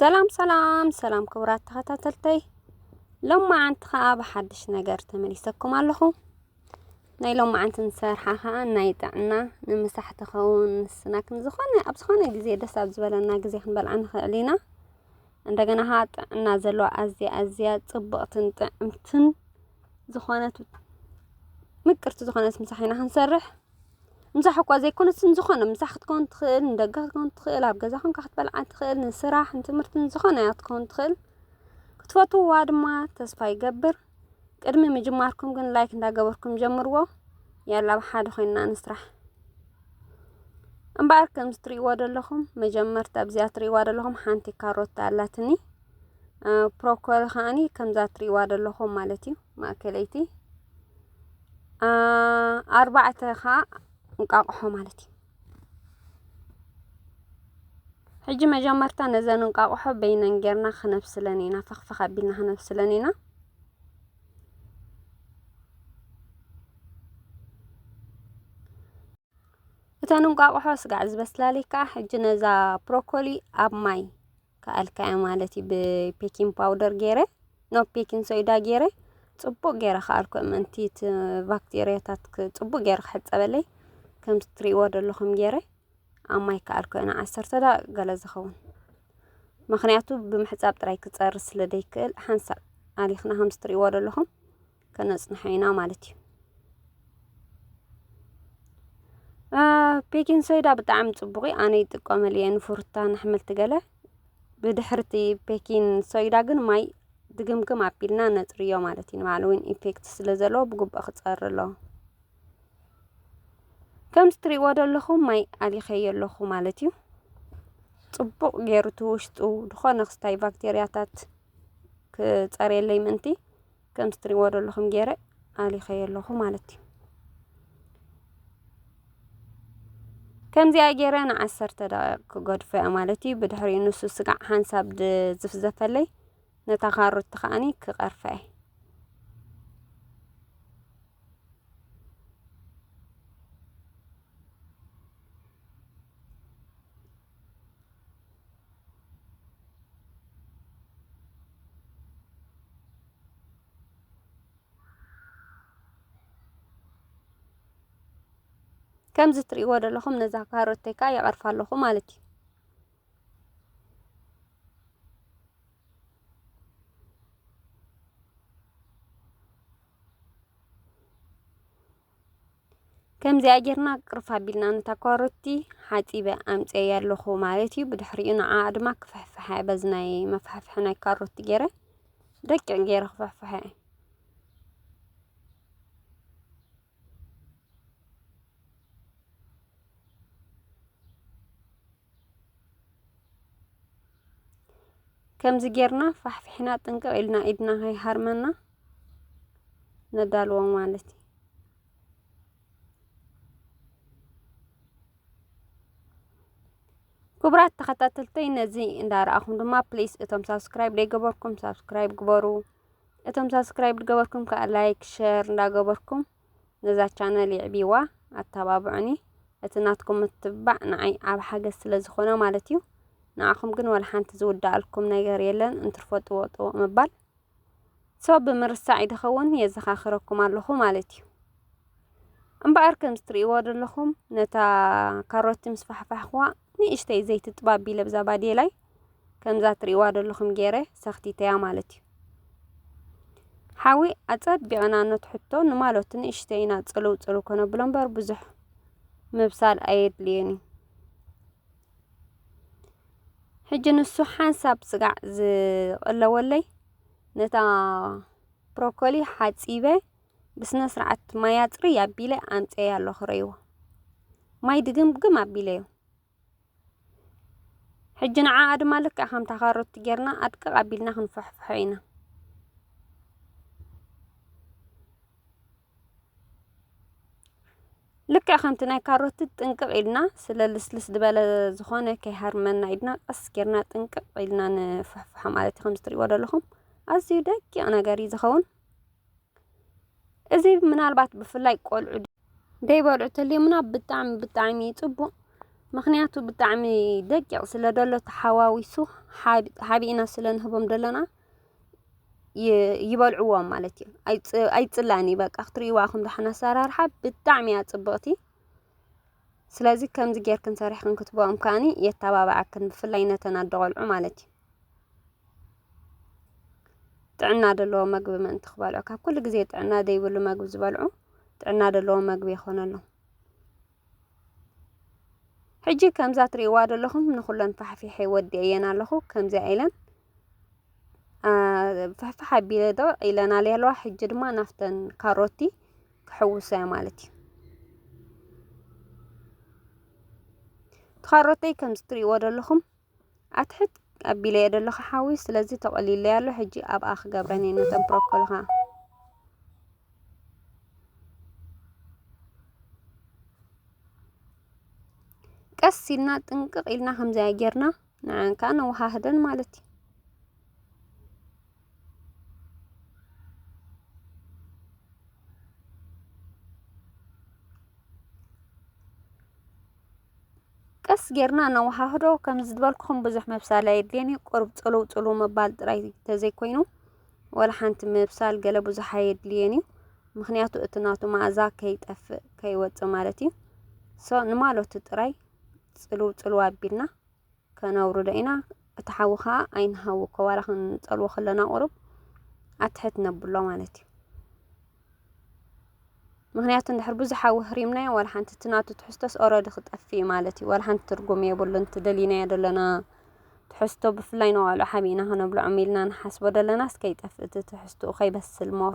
ሰላም ሰላም ሰላም ክቡራት ተኸታተልተይ ሎማዓንቲ ከዓ ብሓድሽ ነገር ተመሊሰኩም ኣለኹ ናይ ሎማዓንቲ ንሰርሓ ከዓ ናይ ጥዕና ንምሳሕ ትኸውን ስናክ ንዝኾነ ኣብ ዝኾነ ግዜ ደስ ኣብ ዝበለና ግዜ ክንበልዓ ንኽእል ኢና እንደገና ከዓ ጥዕና ዘለዋ ኣዝያ ኣዝያ ፅብቕትን ጥዕምትን ዝኾነት ምቅርቲ ዝኾነት ምሳሕ ኢና ክንሰርሕ ምሳሕኳ ዘይኮነስ ንዝኾነ ምሳሕ ክትከውን ትኽእል ንደገ ክትከውን ትኽእል ኣብ ገዛ ኮንካ ክትበልዓ ትኽእል ንስራሕ ንትምህርቲ ንዝኾነ እያ ክትከውን ትኽእል ክትፈትውዋ ድማ ተስፋ ይገብር ቅድሚ ምጅማርኩም ግን ላይክ እንዳገበርኩም ጀምርዎ ያላ ኣብ ሓደ ኮይንና ንስራሕ እምበኣር ከምዚ ትርእይዎ ዘለኹም መጀመርታ ኣብዚኣ ትርእይዋ ዘለኹም ሓንቲ ካሮት ኣላትኒ ፕሮኮል ከዓኒ ከምዛ ትርእይዋ ዘለኹም ማለት እዩ ማእከለይቲ ኣርባዕተ ኸዓ እንቃቕሖ ማለት እዩ። ሕጂ መጀመርታ ነዘን እንቃቕሖ በይነን ጌርና ክነብስለን ኢና፣ ፈኽፈኽ ኣቢልና ክነብስለን ኢና። እተን እንቋቑሖ ስጋዕ ዝበስላልይ ከዓ ሕጂ ነዛ ብሮኮሊ ኣብ ማይ ከኣልካያ ማለት እዩ ብፔኪን ፓውደር ገይረ ኖ ፔኪን ሶይዳ ገይረ ፅቡቅ ገይረ ከኣልኩ ምእንቲ እቲ ባክቴርያታት ፅቡቅ ገይረ ክሕፀበለይ ከምቲ እትሪእዎ ዘለኹም ገይረ ኣብ ማይ ከኣልኩ ንዓሰርተ ደቂቅ ገለ ዝኸውን ምክንያቱ ብምሕፃብ ጥራይ ክፀርስ ስለ ዘይክእል ሓንሳእ ኣሊኽና ከምቲ እትሪእዎ ዘለኹም ከነጽንሖ ኢና ማለት እዩ ቤኪንግ ሶዳ ብጣዕሚ ጽቡቕ እዩ ኣነ ይጥቀመሉ እየ ንፍሩታን ኣሕምልቲ ገለ ብድሕርቲ ቤኪን ሶይዳ ግን ማይ ድግምግም ኣቢልና ነጽርዮ ማለት እዩ ንባዕሉ እውን ኢፌክት ስለ ዘለዎ ብግቡእ ክጸሪ ኣለዎ ከምዚ ትሪእዎ ዘለኹም ማይ ኣሊኸዮ ኣለኹ ማለት እዩ ጽቡቕ ገይሩ እቲ ውሽጡ ዝኾነ ክስታይ ባክቴርያታት ክጸርየለይ ምእንቲ ከምቲ ትሪእዎ ዘለኹም ገይረ ኣሊኸዮ ኣለኹ ማለት እዩ ከምዚኣ ገይረ ንዓሰርተ ደቂቕ ክገድፎ እያ ማለት እዩ ብድሕሪኡ ንሱ ስጋዕ ሓንሳብ ዝፍዘፈለይ ነታ ካሮት ከዓኒ ክቐርፈ እየ ከምዚ ትሪእዎ ዘለኹም ነዛ ካሮተይ ከዓ ይቐርፋ ኣለኹ ማለት እዩ። ከምዚኣ ጌርና ቅርፍ ኣቢልና ነታ ኳሮቲ ሓጺበ ኣምጽኤያ ኣለኹ ማለት እዩ። ብድሕሪኡ ንዓኣ ድማ ክፍሕፍሐ በዚ ናይ መፍሕፍሒ ናይ ካሮቲ ገይረ ደቂቕ ገይረ ክፍሕፍሐ ከምዚ ጌርና ፋሕፊሕና ጥንቅቅ ኢልና ኢድና ከይሃርመና ነዳልዎ ማለት እዩ። ክቡራት ተኸታተልተይ ነዚ እንዳረኣኹም ድማ ፕሊስ እቶም ሳብስክራይብ ዘይገበርኩም ሳብስክራይብ ግበሩ። እቶም ሳብስክራይብ ዝገበርኩም ከዓ ላይክ ሸር እንዳገበርኩም ነዛ ቻነል የዕብይዋ ኣተባብዑኒ እቲ ናትኩም ምትብባዕ ንዓይ ዓቢ ሓገዝ ስለ ዝኾነ ማለት እዩ ንዓኹም ግን ወላ ሓንቲ ዝውዳኣልኩም ነገር የለን እንትርፎ ጥውቕ ጥውቕ ምባል ሶ ብምርሳዕ ይድኸውን የዘኻኽረኩም ኣለኹ ማለት እዩ እምበኣር ከምዚ ትርእይዎ ዘለኹም ነታ ካሮቲ ምስ ፋሕፋሕኩዋ ንእሽተይ ዘይቲ ጥባብ ቢለ ብዛ ባዴላይ ከምዛ ትርእይዋ ዘለኹም ገይረ ሰኽቲተያ ማለት እዩ። ሓዊ ኣጸቢቕና ነትሕቶ ንማሎት ንእሽተይ ኢና ጽልው ጽልው ከነብሎ እምበር ብዙሕ ምብሳል ኣየድልዮን እዩ። ሕጂ ንሱ ሓንሳብ ስጋዕ ዝቕለወለይ ነታ ብሮኮሊ ሓጺበ ብስነ ስርዓት ማይ ኣጽርይ ኣቢለ ኣምጽኤያ ኣለኹ ረይዎ ማይ ድግምግም ኣቢለዮ ሕጂ ንዓኣ ድማ ልክዕ ከምታ ካሮት ጌርና ኣድቅቕ ኣቢልና ክንፈሕፍሖ ኢና። ልክዕ ከምቲ ናይ ካሮት ጥንቅቕ ኢልና ስለ ልስልስ ዝበለ ዝኾነ ከይሃርመና ኢድና ቀስ ጌርና ጥንቅቕ ኢልና ንፍሕፍሖ ማለት እዩ። ከምዚ ትሪእዎ ዘለኹም ኣዝዩ ደቂቕ ነገር እዩ ዝኸውን። እዚ ምናልባት ብፍላይ ቆልዑ ደይበልዑ ተልዮምና ብጣዕሚ ብጣዕሚ እዩ ፅቡቕ ምኽንያቱ ብጣዕሚ ደቂቕ ስለ ዘሎ ተሓዋዊሱ ሓቢእና ስለ ንህቦም ዘለና ይበልዕዎ ማለት እዩ ኣይፅላእን እዩ በቃ ክትርእይዋ ኢኹም ዳሕና ኣሰራርሓ ብጣዕሚ እያ ፅብቕቲ ስለዚ ከምዚ ጌርክን ሰሪሕክን ክትበኦም ከዓኒ የተባብዓክን ብፍላይ ነተን ኣደ ቆልዑ ማለት እዩ ጥዕና ዘለዎ መግቢ ምእንቲ ክበልዑ ካብ ኩሉ ግዜ ጥዕና ዘይብሉ መግቢ ዝበልዑ ጥዕና ደለዎ መግቢ የኾነሎም። ሕጂ ከምዛ ትርእይዋ ዘለኹም ንኹለን ፋሕፊሐ ወዲኤየን ኣለኹ ከምዚኣ ኢለን ፍሕፍሕ ኣቢለ ዶ ኢለን ኣልየ ኣለዋ ሕጂ ድማ ናፍተን ካሮቲ ክሕውሰያ ማለት እዩ ትኻሮተይ ከምዚ ትርእይዎ ዘለኹም ኣትሕት ኣቢለዮ ደለኹ ሓዊ ስለዚ ተቆሊለይ ኣሎ ሕጂ ኣብኣ ክገብረን እየ ነቶም ፕሮኮልኻ ቀስ ኢልና ጥንቅቅ ኢልና ከምዚኣ ጌርና ንዐን ከዓ ነወሃህደን ማለት እዩ። ቀስ ጌርና ነወሃህዶ ከም ዝበልኩኹም ብዙሕ ምብሳል ኣየድልዮን እዩ ቁሩብ ጽልው ጽልው ምባል ጥራይ ተዘይኮይኑ ወላ ሓንቲ ምብሳል ገለ ብዙሕ ኣየድልዮን እዩ ምኽንያቱ እቲ ናቱ መኣዛ ከይጠፍእ ከይወጽእ ማለት እዩ ሶ ንማለቱ ጥራይ ጽልው ጽልው ኣቢልና ከነውርዶ ኢና እቲ ሓዊ ከዓ ኣይንሃውኮ ዋላ ክንፀልዎ ከለና ቁሩብ ኣትሕት ነብሎ ማለት እዩ ምክንያቱ እንድሕር ብዙሕ ሓዊ ህሪምናዮ ዋላ ሓንቲ እቲ ናቱ ትሕዝቶስ ኦረዲ ክጠፍእ ማለት እዩ ዋላ ሓንቲ ትርጉም የብሉን እቲ ደሊናዮ ዘለና ትሕዝቶ ብፍላይ ንቆልዑ ሓቢእና ክነብልዖም ኢልና ንሓስቦ ደለናስ ከይጠፍእ እቲ ትሕዝትኡ ከይበስል ሞር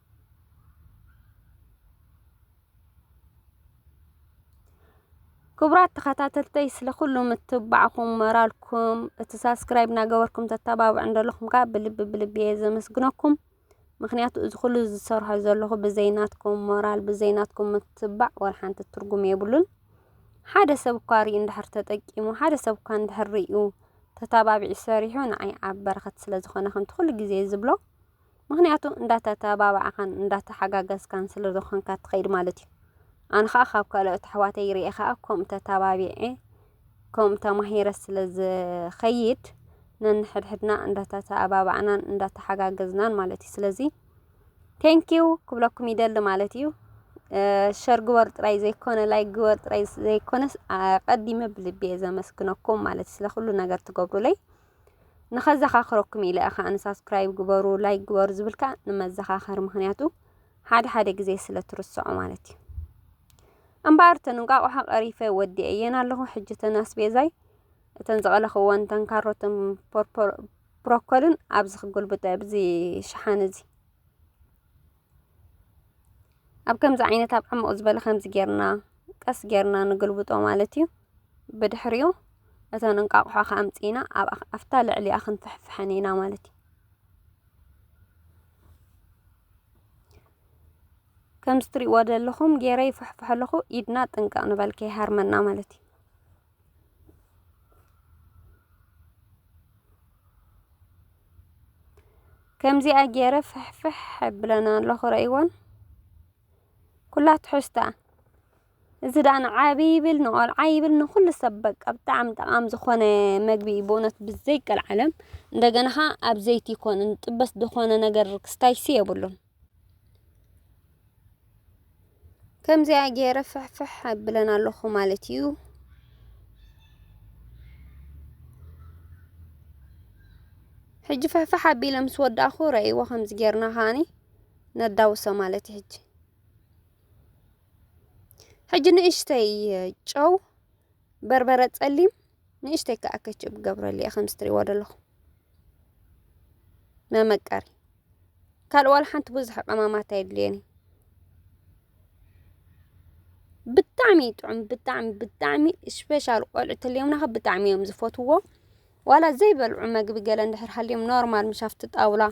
ክቡራት ተኸታተልተይ ስለ ኩሉ ምትብባዕኩም ሞራልኩም እቲ ሳብስክራይብ እናገበርኩም ተተባብዑን ዘለኹም ከዓ ብልቢ ብልቢ እየ ዘመስግነኩም። ምክንያቱ እዚ ኩሉ ዝሰርሖ ዘለኹ ብዘይናትኩም ሞራል ብዘይናትኩም ምትብባዕ ወላ ሓንቲ ትርጉም የብሉን። ሓደ ሰብ እኳ ሪኡ እንድሕር ተጠቂሙ ሓደ ሰብ እኳ እንድሕር ሪኡ ተታባቢዑ ሰሪሑ ንዓይ ኣብ በረኸት ስለ ዝኾነ ከምቲ ኩሉ ግዜ ዝብሎ ምክንያቱ እንዳተተባባዕካን እንዳተሓጋገዝካን ስለ ዝኾንካ ትኸይድ ማለት እዩ። ኣነ ከዓ ካብ ካልኦት ኣሕዋተይ ርኤ ከዓ ከምኡ ተተባቢዐ ከምኡ ተማሂረ ስለ ዝኸይድ ነንሕድሕድና እንዳተተባባዕናን እንዳተሓጋገዝናን ማለት እዩ። ስለዚ ቴንኪው ክብለኩም ይደሊ ማለት እዩ። ሸር ግበር ጥራይ ዘይኮነ ላይ ግበር ጥራይ ዘይኮነስ ቀዲመ ብልቤ ዘመስግነኩም ማለት ስለ ኩሉ ነገር ትገብሩለይ ንኸዘኻኽረኩም ኢለ ከኣ ንሳብስክራይብ ግበሩ ላይክ ግበሩ ዝብል ከኣ ንመዘኻኸሪ ምኽንያቱ ሓደ ሓደ ግዜ ስለ ትርስዖ ማለት እዩ። እምበኣር እተን እንቋቑሖ ቀሪፈ ወዲኤየን ኣለኹ። ሕጂ እተን ኣስቤዛይ እተን ዝቐለኽወን እተን ካሮትን ብሮኮልን ኣብዚ ክጉልብጠ ኣብዚ ሸሓነ እዚ ኣብ ከምዚ ዓይነት ኣብ ዕሙቅ ዝበለ ከምዚ ጌርና ቀስ ጌርና ንግልብጦ ማለት እዩ። ብድሕሪኡ እተን እንቃቁሖ ከኣ ኣምጺእና ኣብ ኣብታ ልዕሊኣ ክንፍሕፍሐን ኢና ማለት እዩ። ከምዚ ትሪእዎ ዘለኹም ጌረ ይፍሕፍሖ ኣለኹ ኢድና ጥንቅቅ ንበል ከይሃርመና ማለት እዩ። ከምዚኣ ጌረ ፍሕፍሕ የብለን ኣሎ ክርእይወን ኩላ ትሕዝቶኣ እዚ ደኣ ንዓቢ ይብል ንቆልዓ ይብል ንኩሉ ሰብ በቃ ብጣዕሚ ጠቓሚ ዝኾነ መግቢ እዩ ብእውነት ብዘይቀልዓለም እንደገና ኸኣ ኣብ ዘይቲ ይኮን ጥበስ ዝኾነ ነገር ክስታይሲ የብሉን። ከምዚኣ ገይረ ፍሕፍሕ ኣብለን ኣለኹ ማለት እዩ። ሕጂ ፍሕፍሕ ኣቢለ ምስ ወዳእኹ ረእይዎ ከምዚ ጌርና ከዓኒ ነዳውሶ ማለት እዩ። ሕጂ ሕጂ ንእሽተይ ጨው፣ በርበረ ጸሊም፣ ንእሽተይ ከኣ ከችብ ገብረሉ እየ ከምዚ ትርእይዎ ዘለኹም። መመቀሪ ካልእ ዋላ ሓንቲ ብዙሕ ቀማማት ኣየድልየን እዩ ብጣዕሚ እዩ ጥዑም ብጣዕሚ ብጣዕሚ ስፔሻል ቆልዑ ተልዮምና ከ ብጣዕሚ እዮም ዝፈትውዎ ዋላ ዘይበልዑ መግቢ ገለ እንድሕር ሃልዮም ኖርማል ምሽ ኣብቲ ጣውላ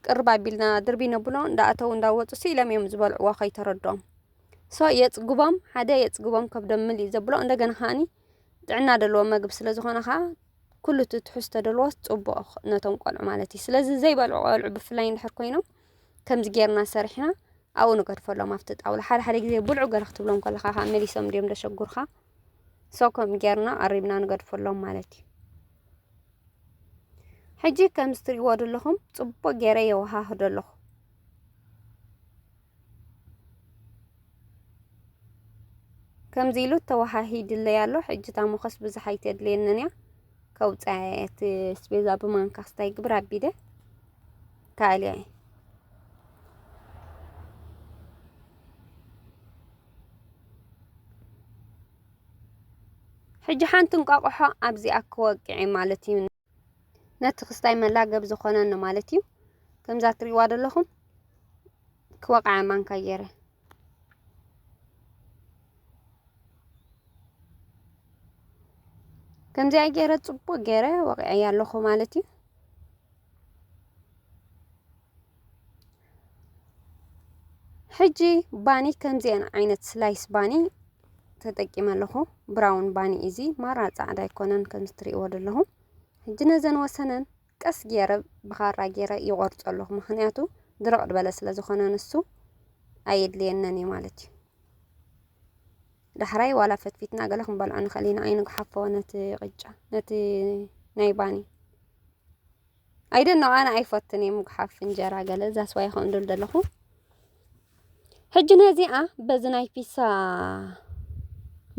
ቅርብ ኣቢልና ድርቢ ነብሎ እንዳኣተው እንዳወፁ ስኢሎም እዮም ዝበልዕዎ ከይተረድኦም ሶ የፅግቦም ሓደ የፅግቦም ከብዶም ምልእ ዘብሎ እንደገና ከዓኒ ጥዕና ደልዎ መግቢ ስለ ዝኾነ ኸኣ ኩሉ እቲ ትሕዝቶ ደልዎስ ጽቡቕ ነቶም ቆልዑ ማለት እዩ ስለዚ ዘይበልዑ ቆልዑ ብፍላይ እንድሕር ኮይኖም ከምዚ ጌርና ሰሪሕና ኣብኡ ንገድፈሎም ኣብቲ ጣውላ ሓደ ሓደ ግዜ ብልዑ ገለ ክትብሎም ከለኻ ከዓ መሊሶም ድዮም ደሸጉርካ ሰው ከም ጌርና ቀሪብና ንገድፈሎም ማለት እዩ ሕጂ ከም ዝትሪእዎ ዘለኹም ጽቡቕ ጌረ የወሃህዶ ኣለኹ ከምዚ ኢሉ ተዋሃሂድለይ ኣሎ ሕጂ እታ ሞኸስ ብዙሕ ኣይተድልየንን እያ ከውፅኣ እየ እቲ ስቤዛ ብማንካ ክስታይ ግብር ኣቢደ ካልያ እየ ሕጂ ሓንቲ እንቋቑሖ ኣብዚኣ ክወቅዕ ማለት እዩ ነቲ ክስታይ መላገብ ዝኾነኒ ማለት እዩ። ከምዛ ትሪእዋ ዘለኹም ክወቕዓ ማንካ ገይረ ከምዚኣ ገይረ ጽቡቕ ገይረ ወቂዐያ ኣለኹ ማለት እዩ። ሕጂ ባኒ ከምዚኤን ዓይነት ስላይስ ባኒ ተጠቂመ ኣለኹ ብራውን ባኒ እዚ ማራ ጻዕዳ ኣይኮነን ከም ትሪእዎ ዘለኹ ሕጂ ነዘን ወሰነን ቀስ ገይረ ብኻራ ገይረ ይቆርጾ ኣለኹ ምክንያቱ ድርቅ ድበለ ስለ ዝኾነ ንሱ ኣየድልየነን እዩ ማለት እዩ ዳሕራይ ዋላ ፈትፊትና ገለ ክንበልዖ ንኽእል ኢና ኣይንግሓፎ ነቲ ቅጫ ነቲ ናይ ባኒ ኣይደን ነው ኣነ ኣይፈትን እየ ምጉሓፍ እንጀራ ገለ ዛስዋይ ይኸውን ዶ ዘለኹ ሕጂ ነዚኣ በዚ ናይ ፒሳ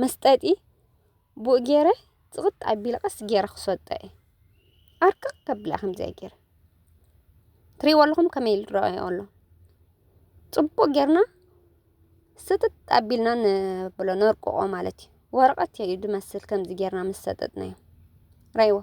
መስጠጢ ብኡ ገይረ ጽቕጥ ኣቢለ ቀስ ገይረ ክሰጦ እየ ኣርቅቕ ከብላ ከምዚኣ ገይረ ትሪእዎ ኣለኹም ከመይ ኢሉ ይረኣዮ ኣሎ ጽቡቕ ጌርና ስጥጥ ኣቢልና ንብሎ ነርቅቖ ማለት እዩ ወረቐት እዩ ዝመስል ከምዚ ጌርና ምስ ሰጠጥናዮ ራይዎ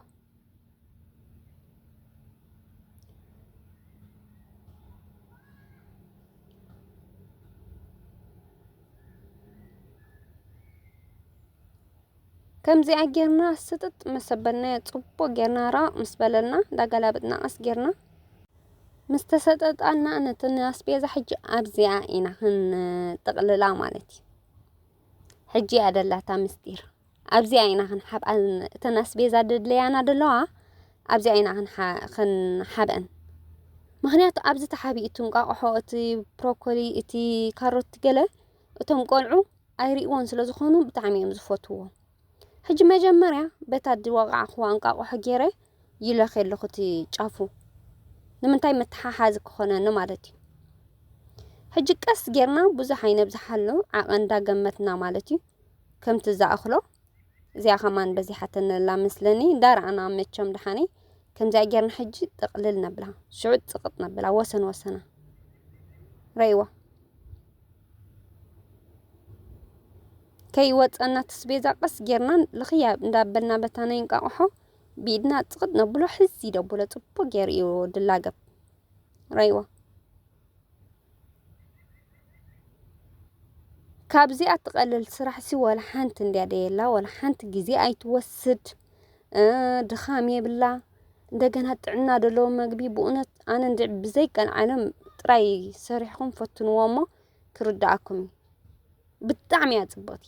ከምዚኣ ጌርና ስጥጥ ምስ ሰበልናዮ ጽቡቕ ጌርና ራቕ ምስ በለልና እንዳገላበጥና ቀስ ጌርና ምስ ተሰጠጣና ነቲ ኣስቤዛ ሕጂ ኣብዚኣ ኢና ክንጥቕልላ ማለት እዩ። ሕጂ እያ ደላታ ምስጢር። ኣብዚኣ ኢና ክንሓብኣን እተን ኣስቤዛ ደድለያና ደለዋ ኣብዚኣ ኢና ክንሓብኣን ምክንያቱ ኣብዚ ተሓቢኡ እቲ እንቋቑሖ እቲ ብሮኮሊ እቲ ካሮት ገለ እቶም ቆልዑ ኣይርእይዎን ስለ ዝኾኑ ብጣዕሚ እዮም ዝፈትዎ ሕጂ መጀመርያ በታ ድወቃዕኽዋ እንቋቑሖ ገይረ ይለኽ ኣለኹ እቲ ጫፉ ንምንታይ መተሓሓዚ ክኾነኒ ማለት እዩ ሕጂ ቀስ ጌርና ብዙሕ ኣይነብዝሓሉ ዓቐን ዳገመትና ማለት እዩ ከምቲ ዝኣኽሎ እዚኣ ከማን በዚሓትንላ መስለኒ እንዳ ረኣና መቸም ደሓኒ ከምዚኣ ጌርና ሕጂ ጥቕልል ነብላ ሽዑ ጽቕጥ ነብላ ወሰን ወሰና ረይዋ ከይወፀና ትስቤዛ ቀስ ጌርና ልኽያ እንዳበልና በታ ናይ እንቃቑሖ ብኢድና ጽቕጥ ነብሎ ሕዚ ደብሎ ጽቡቅ ጌሩ እዩ ድላገብ ረይዋ ካብዚኣ ትቐልል ስራሕሲ ወላ ሓንቲ እንድያ ደየላ ወላ ሓንቲ ግዜ ኣይትወስድ ድኻም የብላ እንደገና ጥዕና ዘለዎ መግቢ ብእውነት ኣነ እንድ ብዘይቀንዓለም ጥራይ ሰሪሕኹም ፈትንዎ እሞ ክርድኣኩም እዩ ብጣዕሚ እያ ፅብቕቲ።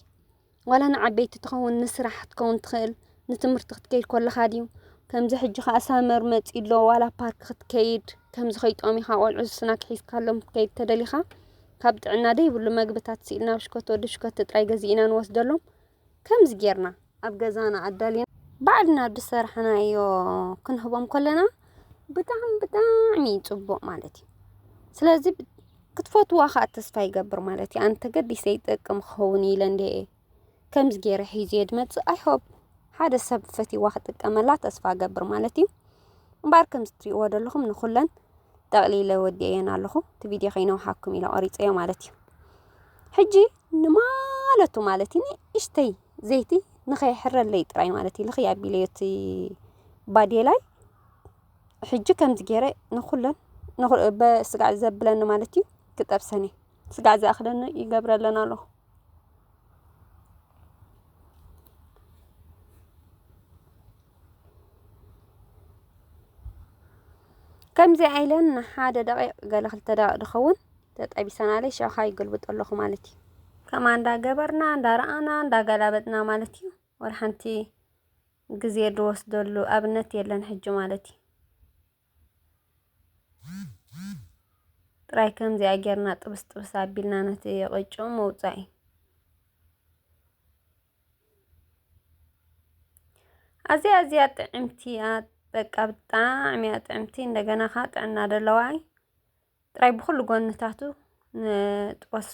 ዋላ ንዓበይቲ ትኸውን ንስራሕ ክትከውን ትኽእል ንትምህርቲ ክትከይድ ኮለኻ ድዩ ከምዚ ሕጂ ከኣ ሳመር መጺ ኣሎ ዋላ ፓርክ ክትከይድ ከምዚ ከይጠሚኻ ቆልዑ ስናክ ሒዝካሎም ክትከይድ ተደሊኻ ካብ ጥዕና ደይብሉ መግብታት ስኢልና ናብ ሽኮት ወዲ ሽኮት ጥራይ ገዚእና ንወስደሎም ከምዚ ጌርና ኣብ ገዛና ኣዳሊና ባዕልና ብሰራሕናዮ ክንህቦም ኮለና ብጣዕሚ ብጣዕሚ ጽቡቕ ማለት እዩ ስለዚ ክትፈትዋ ከኣ ተስፋ ይገብር ማለት እዩ ኣን ተገዲሰ ይጠቅም ክኸውን ኢለ እንድየ ከምዚ ገይረ ሒዝየ ድመጽእ ኣይሆፕ ሓደ ሰብ ፈትዋ ክጥቀመላ ተስፋ ገብር ማለት እዩ እምበኣር ከምዚ ትሪእዎ ዘለኹም ንኹለን ጠቕሊለ ወዲኤየን ኣለኹ እቲ ቪድዮ ከይነውሓኩም ኢለ ቆሪጸዮ ማለት እዩ ሕጂ ንማለቱ ማለት እዩ ንእሽተይ ዘይቲ ንኸይሕረለይ ጥራይ ማለት እዩ ልኽይ ኣቢለዮ እቲ ባዴላይ ሕጂ ከምዚ ገይረ ንኹለን በስጋዕ ዘብለኒ ማለት እዩ ክጠብሰን እዩ ስጋዕ ዝኣኽለኒ ይገብረለን ኣለኹ ከምዚ ዓይለን ንሓደ ደቂቕ ገለ ክልተ ደቂቕ ድኸውን ተጠቢሰናለይ ሸኻ ይገልብጦ ኣለኹ ማለት እዩ ከማ እንዳገበርና እንዳረኣና እንዳገላበጥና ማለት እዩ ወር ሓንቲ ግዜ ድወስደሉ ኣብነት የለን ሕጂ ማለት ዩ። ጥራይ ከምዚኣ ጌርና ጥብስ ጥብስ ኣቢልና ነቲ ቅጭኡ ምውጻእ ዩ። ኣዝያ ኣዝያ ጥዕምቲ እያ በቃ ብጣዕሚ እያ ጥዕምቲ እንደገና ከኣ ጥዕና ደለዋ እይ ጥራይ ብኩሉ ጎንታቱ ንጥበሶ።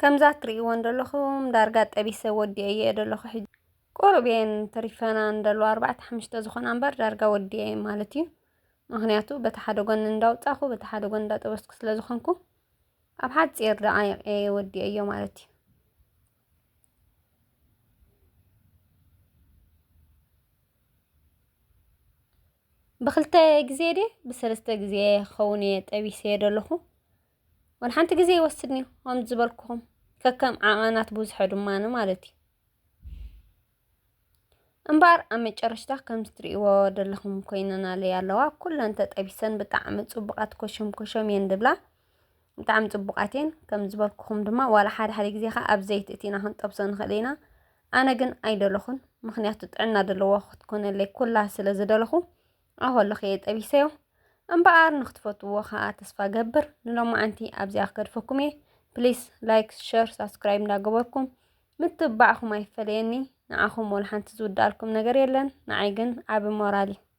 ከምዛ ትሪእወን ዘለኹም ዳርጋ ጠቢሰ ወዲኤየ ዘለኹ ሕጂ ቁሩብ እየን ተሪፈና እንደሎ ኣርባዕተ ሓሙሽተ ዝኾና እምበር ዳርጋ ወዲኤ ማለት እዩ። ምክንያቱ በቲ ሓደ ጎኒ እንዳውፃኹ በቲ ሓደ ጎኒ እንዳጠበስኩ ስለ ዝኾንኩ ኣብ ሓፂር ደቃይቅ እየ ወዲኤዮ ማለት እዩ። ብክልተ ግዜ ድየ ብሰለስተ ግዜ ክኸውን እየ ጠቢሰዮ ዘለኹ ወላ ሓንቲ ግዜ ይወስድኒ እዩ ከምዚ ዝበልኩኹም ከከም ዓቐናት ብዙሐ ድማኒ ማለት እዩ እምበኣር ኣብ መጨረሽታ ከምዚ ትርእይዎ ዘለኹም ኮይነናለይ ኣለዋ ኩለን ተጠቢሰን ብጣዕሚ ጽቡቓት ኮሸም ኮሸም እየን ድብላ ብጣዕሚ ጽቡቓት እየን ከም ዝበልኩኹም ድማ ዋላ ሓደ ሓደ ግዜ ከዓ ኣብ ዘይቲ እቲና ክንጠብሶ ንኽእል ኢና ኣነ ግን ኣይደለኹን ምክንያቱ ጥዕና ደለዎ ክትኮነለይ ኩላ ስለ ዝደለኹ ኣብ ኣለኹ እየ ጠቢሰዮ እምበኣር ንክትፈትዎ ከዓ ተስፋ ገብር ንሎማዓንቲ ኣብዚኣ ክገድፈኩም እየ ፕሊስ ላይክ ሸር ሳብስክራይብ እንዳገበርኩም ምትብባዕኹም ኣይፈለየኒ ንዓኹም ወላ ሓንቲ ዝውዳኣልኩም ነገር የለን ንዓይ ግን ዓቢ ሞራል እዩ